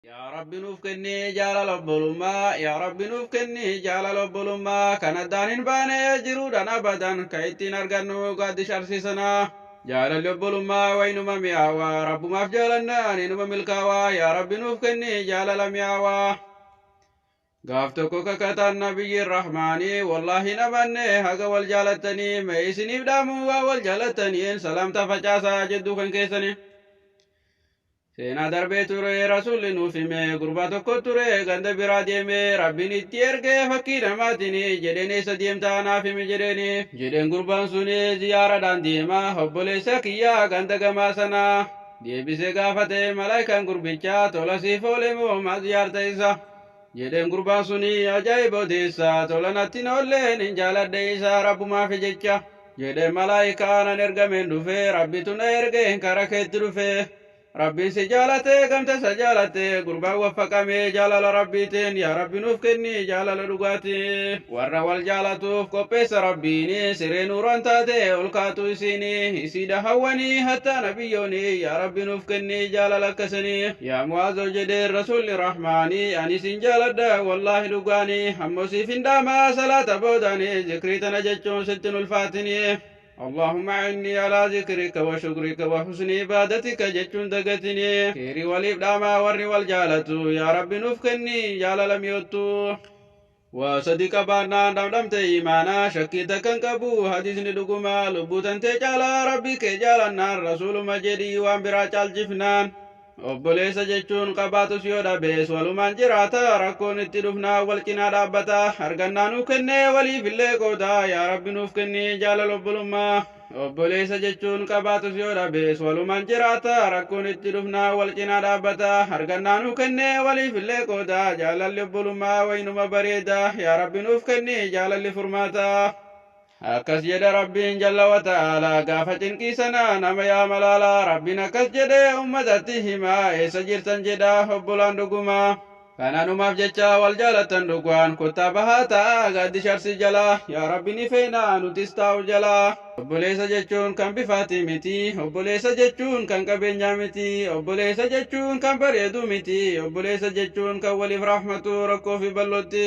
Yaa Rabbi nuuf kenni jaalala obbolummaa Yaa Rabbi nuuf kenni jaalala obbolummaa Kan addaan hin baane jiruudhaan abadan Ka ittiin argannu gaaddi sharsii sanaa Jaalalli obbolummaa waynuma mi'aawa Rabbumaaf jaalannaan inuma milkaawa Yaa Rabbi nuuf kenni jaalala mi'aawa Gaaf tokko kakataan nabiyyiin rahmaanii Wallaahi hin amanne haga wal jaalattanii Mee isiniif dhaamu waan wal jaalattaniin Salaamta facaasaa jidduu kan keessanii Seenaa darbee ture rasuulli nuuf hime gurbaa tokko ture ganda biraa deeme rabbiin itti erge fakkii namaatini jedheen eessa deemtaa naaf himi jedheeni jedheen gurbaan suni ziyaaradhaan deema obboleessa kiyyaa ganda gamaa sanaa deebisee gaafate malaayikaan gurbichaa tola siif oole moo maa ziyaarta isa Jedheen gurbaan suni ajaa'iba odeessa tola natti hin oolleen hin jaaladhe isa rabbumaafi jecha jedheen malaa'ikaa nan ergameen dhufe rabbitu na ergeen kara keetti dhufe rabbiin si jaalate gamta isa jaalatte gurbaan waffaqame jaalala rabbiitiin yaa rabbi nuuf kenni jaalala dhugaati warra wal jaalatuuf qopheessa rabbiini siree nuuraan taate ol kaatu isiini isiidha hawwanii hattaa nabiyyooni yaa rabbi nuuf kenni jaalala akkasanii Yaa Mu'aazoo jedheen Rasuulli Rahmaani, ani sin jaaladha, wallaahi dhugaani, ammoo siifin dhaama, salaata boodaani zikrii tana jechuun sitti hin ulfaatini. Allaahumma a'innii alaa zikrika wa shukrika wa husni ibaadatika jechuun dagatini. Kheeyrii waliif dhaamaa warri wal jaalatu. Yaa Rabbi nuuf kenni jaalala mi'oottuu. Waa sadi qabaannaan dhamdhamte iimaana shakkii takkan qabu hadiisni dhuguma lubbuu tantee caala rabbi kee jaalannaan rasuuluma jedhi waan biraa caalchifnaan obboleessa jechuun qabaatus yoo dhabees walumaan jiraata rakkoon itti dhufnaan wal cinaa dhaabbata argannaa nuu kennee waliifillee qooda yaa rabbi nuuf kenni jaalala obbolummaa Obboleessa jechuun qabaatus yoo dhabees walumaan jiraata. Rakkoon itti dhufnaan wal cinaa dhaabbata. Argannaa nuu kennee waliif illee qooda. Jaalalli obbolummaa wayinuma bareeda. Yaa Rabbi nuuf kenni jaalalli furmaata. Akkas jedha Rabbiin jalla wa ta'aalaa gaafa cinqii sana nama yaa malaala. Rabbiin akkas jedhee ummatatti hima. Eessa jirtan jedha obbolaan dhugumaa. Kananumaaf jecha wal jaalattan dhugaan kottaa bahaa taa'aa gaaddisha Arsii jalaa yaa Rabbi ni feena nutis taa'u jalaa. Obboleessa jechuun kan bifaati miti obboleessa jechuun kan qabeenyaa miti obboleessa jechuun kan bareedu miti obboleessa jechuun kan waliif rahmatu rakkoo fi bal'ootti.